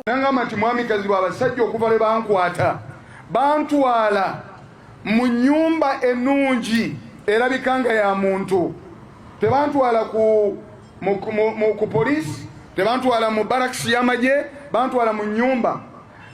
nangamba nti mwami kazibwe abasajja okuva lwe bankwata bantwala mu nyumba ennungi erabika nga ya muntu tebantwala ku ku poliisi tebantwala mu barakisi y'amagye bantwala mu nyumba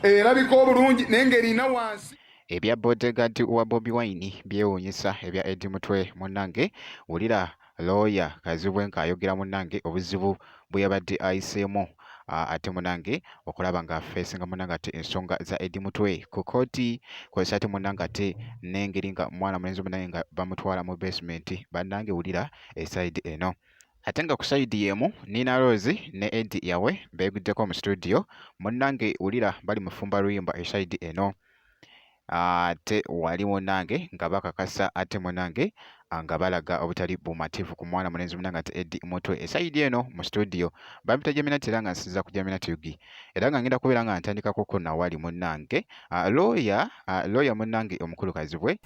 erabika obulungi naye ngaerina wansi ebya bodegaadi wa bobi wine byewuunyisa ebya edi mutwe munnange wulira looya Kazibwe ng'ayogera munnange obuzibu bwe yabadde ayiseemu ate munange okulaba nga fesinga munange ate ensonga za Eddie Mutwe ku kkooti kozesa ate munange ate n'engeri nga mwana mulenzi munange nga bamutwala mu basement bannange wulira esayidi eno ate nga ku sayidi y'emu Nina Rose ne Eddie yawe beeguddeko mu studio munnange wulira bali mufumba luyimba esayidi eno ate wali munange nga bakakasa ate munange ah, nga balaga obutali bumativu ku mwana mulenzi munange ate edi mutwe esayidi eno mu studio bampita jaminati era nga nsinza ku jaminati ugi era nga ngenda kubeera nga ntandikakuko nawali munange ah, looya ah, looya munange omukulu kazibwe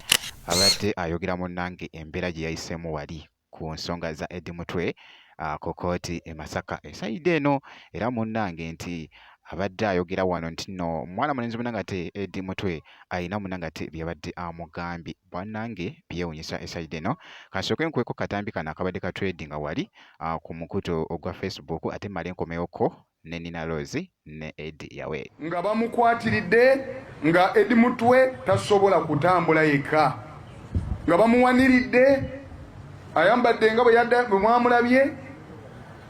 abadde ayogera munange embeera gye yayisemu wali ku nsonga za Eddie Mutwe uh, ku kooti e Masaka esayidde eno era munnange nti abadde ayogera wano nti no mwana mulenzi munangate edi mutwe alina munangate byabadde amugambye bwanange byewunyisa esaide eno kasooke nkuweko katambi kano akabadde katredinga wali ku mukuto ogwa facebook ate male nkomeyoko ne Nina Rose ne Eddy Yawe. Nga bamukwatiridde nga Eddy Mutwe tasobola kutambula yekka nga bamuwaniridde ayambadde nga bwe mwamulabye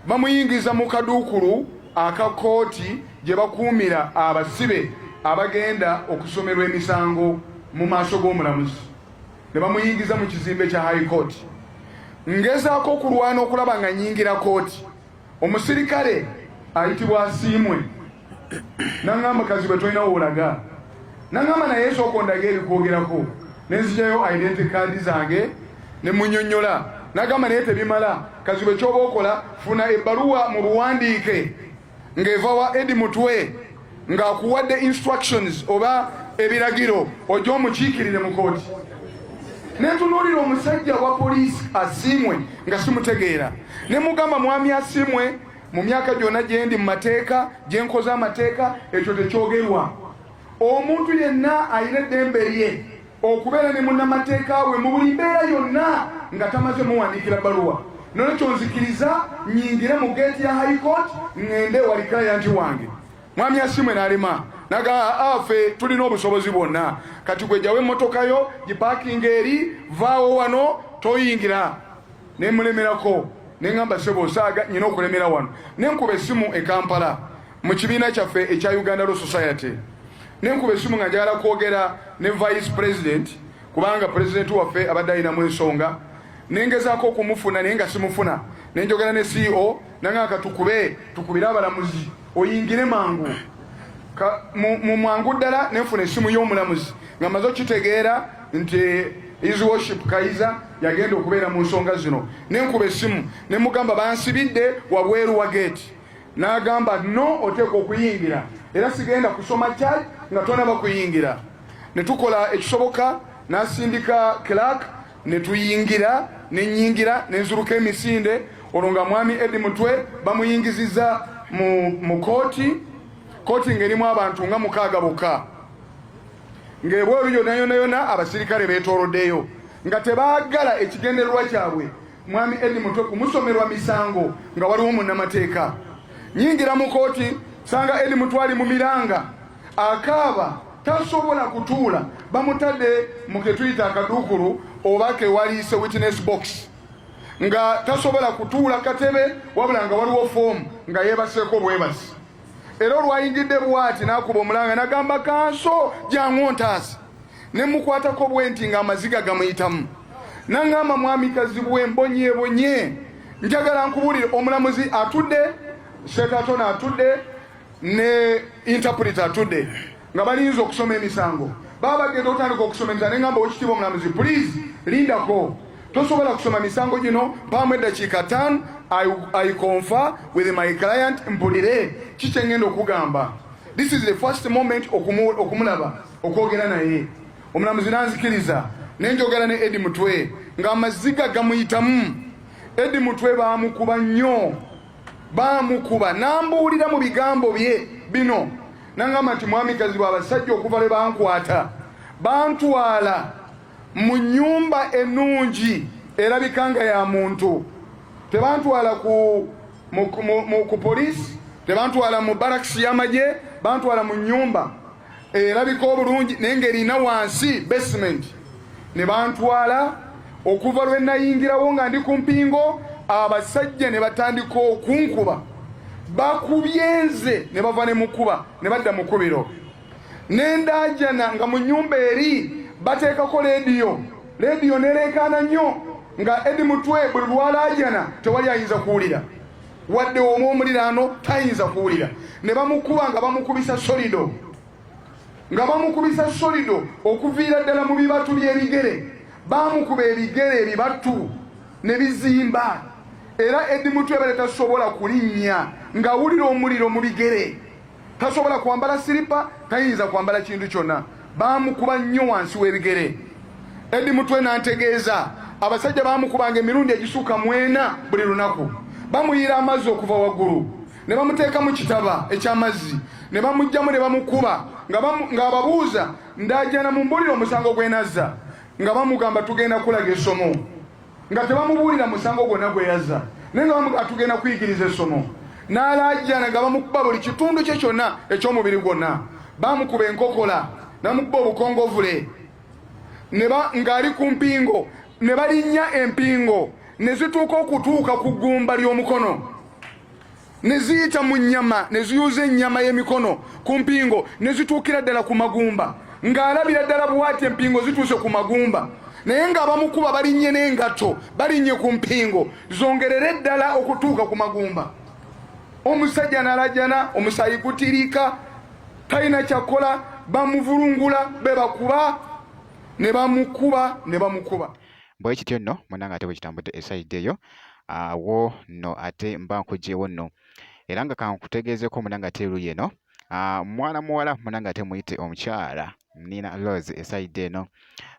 bamuyingiza mu kaduukulu aka kkooti gye bakuumira abasibe abagenda okusomerwa emisango mu maaso g'omulamuzi ne bamuyingiza mu kizimbe kya high court ngezaako okulwana okulaba nga nyingira kooti Omusirikale ayitibwa Asiimwe nangamba kazibwe tolina wolaga nangamba naye esooka ondaga ebikwogerako nenzijayo identity card zange nemunyonyola nagamba naye tebimala kazibwe kyoba okola funa ebbaluwa mu buwandiike ng'eva wa edi mutwe ng'akuwadde instructions oba ebiragiro oja omukiikirire mu kooti nentunuulira omusajja wa poliisi asiimwe nga simutegeera ne mugamba mwami asiimwe mu myaka gyonna gyendi mu mateeka gye nkoze amateeka ekyo tekyogerwa omuntu yenna alina eddembe lye okubeera ne munnamateeka we mu buli mbeera yonna nga tamaze muwandiikira baluwa nolwekyo nzikiriza nyingire mu geeti ya high court ŋŋende ewali kirayanti wange mwami asimwe n'alema naga afe ah, tulina obusobozi bwonna kati gwejawo emmotoka yo gipakinga eri vaawo wano toyingira nemulemerako neŋamba sebo osaaga nyina okulemera wano nenkuba essimu e kampala mu kibiina kyaffe ekya uganda law society nenkuba esimu nga njagala kwogera ne vice president kubanga president waffe abadde alinamu ensonga nengezako okumufuna naye nga simufuna nenjogera ne ceo nanga katukube tukubire abalamuzi oyingire mangu mu mwangu ddala nenfuna esimu y'omulamuzi nga maze okitegeera nti his worship kaiza yagenda okubeera mu nsonga zino nenkuba esimu nemugamba bansibidde wabweru wa geeti N'agamba, no oteekwa okuyingira era sigenda kusoma kyai nga tonaba kuyingira. Ne tukola ekisoboka, n'asindika clerk ne tuyingira, ne nnyingira ne nziruka emisinde olwo nga mwami Eddie Mutwe bamuyingizizza mu mu kooti kooti ng'erimu abantu nga mukaaga bokka ng'ebweru yonna yonna yonna abasirikale beetooloddeyo nga tebaagala ekigendererwa kyabwe Mwami Eddie Mutwe kumusomerwa misango nga waliwo munnamateeka. Nyingira mu kooti sanga Eddie Mutwe ali mu miranga akaaba tasobola kutuula bamutadde mu ketuyita akaduukulu oba kewaliise witness box nga tasobola kutuula katebe wabula nga waliwo foomu nga yeebaseeko bwebasi. era olwayingidde bwati n'akuba omulanga n'agamba kanso jangu ontaasi ne mukwatako bwe nti ng'amaziga gamuyitamu nangamba mwami kazibwe mbonyebonye njagala nkubulire omulamuzi atudde sekatona atudde ne interpreter atudde nga balinze okusoma emisango baba bagenda okutandika okusoma emisango ne ngamba owekitiibwa omulamuzi pulizi lindako tosobola kusoma misango gino mpaamu eddakiika ttaano i confer with my client mpulire ki kye ngenda okugamba this is the first moment okumulaba okwogera naye omulamuzi nanzikiriza ne njogera ne edi mutwe ng'amaziga gamuyitamu edi mutwe baamukuba nnyo baamukuba n'ambuulira mu bigambo bye bino nangamba nti mwami kazibwe abasajja okuva lwe bankwata bantwala mu nnyumba ennungi erabika nga ya muntu tebantwala ku, ku poliisi tebantwala mu barakisi y'amagye bantwala mu nnyumba erabika obulungi naye ng'erina wansi basement ne bantwala okuva lwe nayingirawo nga ndi ku mpingo abasajja ne batandika okunkuba bakubye nze ne bava ne mukuba ne badda mu kubiro ne ndaajana nga mu nnyumba eri bateekako leediyo leediyo nereekaana nnyo nga edi mutwe buli lwalaajana tewali ayinza kuwulira wadde omu omuliraano tayinza kuwulira ne bamukuba nga bamukubisa solido nga bamukubisa solido okuviira ddala mu bibatu by'ebigere baamukuba ebigere ebibatu ne bizimba era edi mutwe bale tasobola kulinnya ng'awulira omuliro mu bigere tasobola kwambala siripa tayinza kwambala kintu kyonna baamukuba nnyo wansi w'ebigere edi mutwe n'antegeeza abasajja baamukubanga emirundi egisuuka mwena buli lunaku bamuyiira amazzi okuva waggulu ne bamuteeka mu kitaba eky'amazzi ne bamugjamu ne bamukuba ng'ababuuza ndaajana mu mbulire omusango gwenazza nga bamugamba tugenda kulaga essomo nga tebamubuulira musango gwonna gwe yazza naye nga bamugamba tugenda kuyigiriza essomo n'alaajana nga bamukuba buli kitundu kye kyonna eky'omubiri gwonna bamukuba enkokola namukuba obukongovule ng'ali ku mpingo ne balinnya empingo ne zituuka okutuuka ku ggumba ly'omukono ne ziyita mu nnyama ne ziyuza ennyama y'emikono ku mpingo ne zituukira ddala ku magumba ng'alabira ddala bwati empingo zituuse ku magumba naye ng'abamukuba balinnye n'engatto balinnye ku mpingo zongerere ddala okutuuka ku magumba omusajja nalajana omusayi gutiriika talina kyakola bamuvulungula be bakuba ne bamukuba ne bamukuba bwe kityo nno munanga ate bwe kitambudde esayidde eyo awo no ate mba nkugyewo no era nga kankutegeezeko muna nga te luye no ah, mwana muwala muna nga te muyite omukyala nina lose esaide eno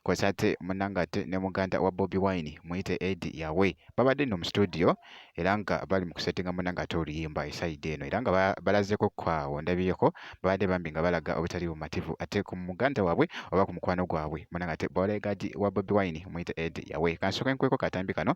kosa ate muna nga te ne muganda wa bobi wine muyite edi yawe babadde no mu studio era nga bali mu kusetinga muna nga te oluyimba esaide eno era nga balazeko kwawo ndabiyeko babadde bambi nga balaga obutali bumativu ate ku muganda wabwe oba ku mukwano gwabwe muna nga te bolegadi wa bobi wine muyite edi yawe kansoka enkweko katambi kano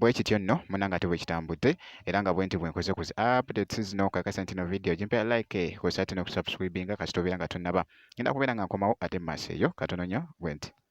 bwe kityo nno munange ate bwe kitambudde era nga bwenti bwe nkoze ku zi updates zino kakasa nti no video gimpera like kw'ossa ate n'okusubscribinga kasita obeera nga tonnaba ngenda kubeera nga nkomawo ate mu maaso eyo katono nnyo bwenti